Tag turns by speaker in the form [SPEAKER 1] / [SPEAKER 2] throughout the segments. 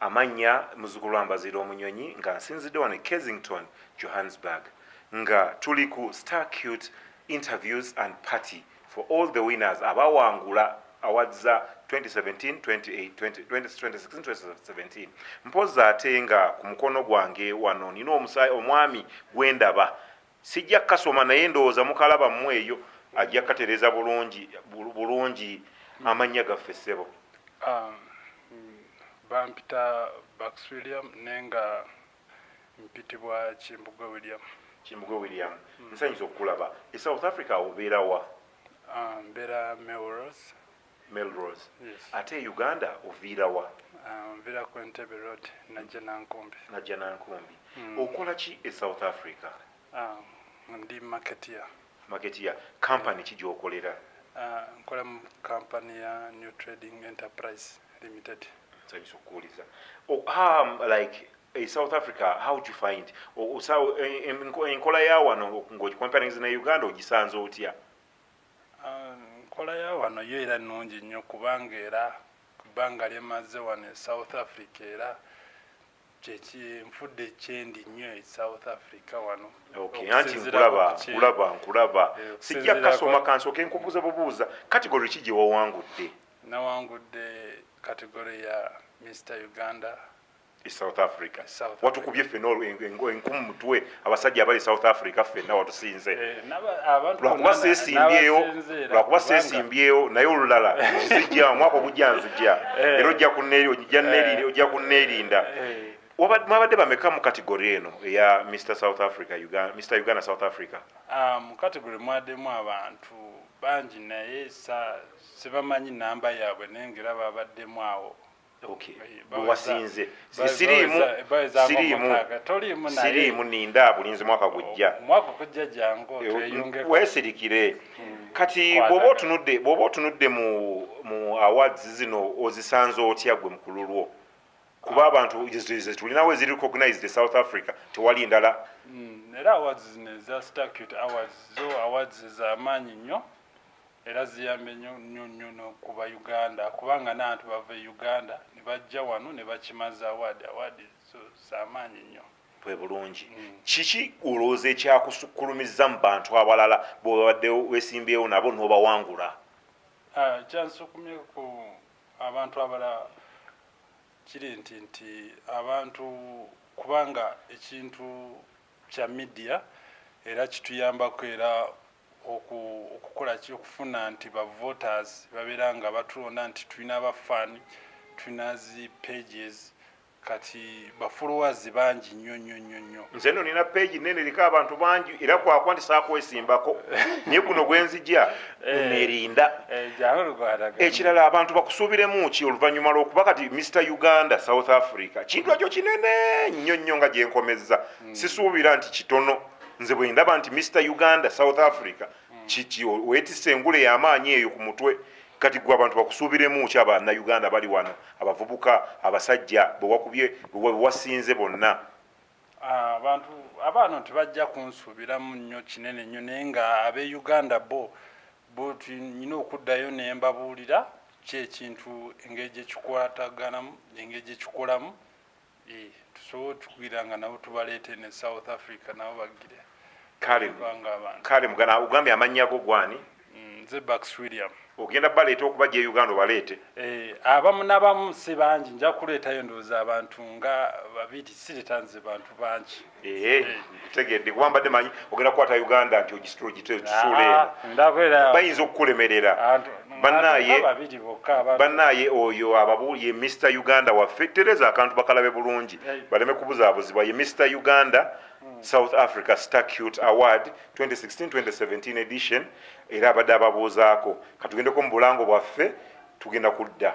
[SPEAKER 1] Amannya, Muzzukulu wa Mbaziira Omunyonyi nga nsinzidde wano e Kensington, Johannesburg nga tuli ku Star Cute interviews and party for all the winners abaawangula awards za 2017, 28, 20, 2016, 2017. Mpozzi ate nga ku mukono gwange wano nina omusaayi omwami gwendaba Sijja kasoma naye ndowooza mukalaba mmu eyo ajja katereza bulungi bulungi amannya gaffe ssebo. Um,
[SPEAKER 2] bampita Bax William naye nga mpitibwa Kimbugwe William. Kimbugwe William. Mm. Nsanyusa okukulaba. E South Africa obeera wa? Um, mbeera Melrose. Melrose. Yes. Ate Uganda
[SPEAKER 1] oviirawa? Uh, nvira ku
[SPEAKER 2] Entebbe Road najja Nankumbi. Najja Nankumbi. Mm.
[SPEAKER 1] Okola ki e South Africa? Uh,
[SPEAKER 2] ndi marketeer. Marketeer.
[SPEAKER 1] Company ki gy'okolera? Uh, nkola mu
[SPEAKER 2] company ya New Trading Enterprise Limited. Nsanyusa okukuwuliza.
[SPEAKER 1] Oh, um, like e South Africa how would you find enkola ya wano ng'ogicomparingiza ne Uganda ogisanze otya?
[SPEAKER 2] enkola ya wano yo era nnungi nnyo kubanga era ku bbanga lyemazze wano e south africa era kyekinfudde kyendi nnyo e south africa wano anti nkulaba
[SPEAKER 1] nkulaba nkulaba eh, sijja kasoma kansooke nkubuuza bubuuza kategori ki gye wawangudde nawangudde
[SPEAKER 2] kategori ya mr uganda e south
[SPEAKER 1] africa watukubye fena enkumu mutwe abasajja abali south africa fena watusinze eh, lwakuba sesimbyewo lwakuba sesimbyewo naye olulala nzija omwaka ogujja nzija eh. era ojja kuneri ojja kuneerinda mwabadde bameka mu kategori eno eya mr south africa mr uganda south africa ah, mu kategori
[SPEAKER 2] mwademu abantu bangi naye sibamanyi namba yaabwe naye ngaera babaddemu awo
[SPEAKER 1] bwewasinze siriimu siriimu siriimu ninda bulinzi mwaka gujja
[SPEAKER 2] wesirikire
[SPEAKER 1] kati bwoba otunudde bwoba otunudde mu mu awards zino ozisanze otya gwe mukulu lwo kuba abantu zetulinawo eziri recognized e south africa tewali ndala hmm, era awards
[SPEAKER 2] zino eza stacut awards zo awards zamaanyi nnyo era ziyambye nyo nyo nyo no kuba Uganda kubanga nantu bava e Uganda nebajja wano nebakimaza award award zo zamaanyi nyo. bwe bulungi
[SPEAKER 1] mm. kiki olowooza ekyakusukkulumizza mu bantu abalala bwebabadde wesimbyewo nabo nobawangula ah,
[SPEAKER 2] kyansukumye ku abantu abalala kiri nti nti abantu kubanga ekintu kya midiya era kituyambako era okukola ki okufuna nti ba voters babeera nga batulonda nti tulina aba fan tulina zi pages kati ba followers bangi nnyo nnyo nnyo nnyo nze no nina page
[SPEAKER 1] nene eriko abantu bangi era kwakwa nti saakwesimbako naye guno gwenzija eh, nerinda eh, ekirala abantu bakusuubiremu ki oluvannyuma lwokuba kati mr uganda south africa kintu ekyo kinene nnyo nnyo nga gyenkomezza hmm. sisuubira nti kitono nze bwendaba nti Mr Uganda South Africa kiki wetise engule yamaanyi eyo ku mutwe kati gwe abantu bakusuubiremu ki abana Uganda bali wano abavubuka abasajja bewakubye bewasinze bonna ah, abantu
[SPEAKER 2] abaano tebajja kunsuubiramu nnyo kinene nnyo naye nga abe Uganda bo bo nyina okuddayo nembabuulira kyekintu engeri gyekikwataganamu engeri gyekikolamu eh, tusobola otukugira nga nabo tubaleete ne south africa nabo bagire kale mugana ogambye amannya go gwani mm, nze bax william ogenda baleeta okuba
[SPEAKER 1] gye uganda obaleete eh, abamu
[SPEAKER 2] nabamu si bangi nja kuleetayo ndowooza abantu nga babiri siretanze bantu bangi tegedde
[SPEAKER 1] kuba mbadde manyi ogenda kukwata uganda nti ogisitulogisuula eno bayinza okukulemerera banaye banaye oyo ababu ye mr uganda waffe tereza akantu bakalabe bulungi baleme kubuzabuzibwa ye mr uganda hmm. south africa starcute award 2016-2017 edition era abadde ababuuzaako katugendeko mu bulango bwaffe tugenda kudda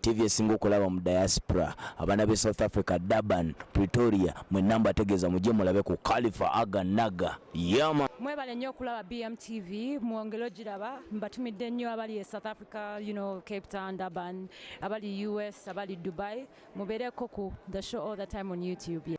[SPEAKER 3] TV esinga okulaba mu diaspora abana be South Africa Durban Pretoria mwe namba tegeza muje mulabe ku Khalifa Aga Naga yama mwebale nyo okulaba
[SPEAKER 4] BMTV mwongelo giraba mbatumidde nyo abali e South Africa you know Cape Town Durban abali US abali Dubai mubere koku the show all the time on YouTube
[SPEAKER 5] yeah.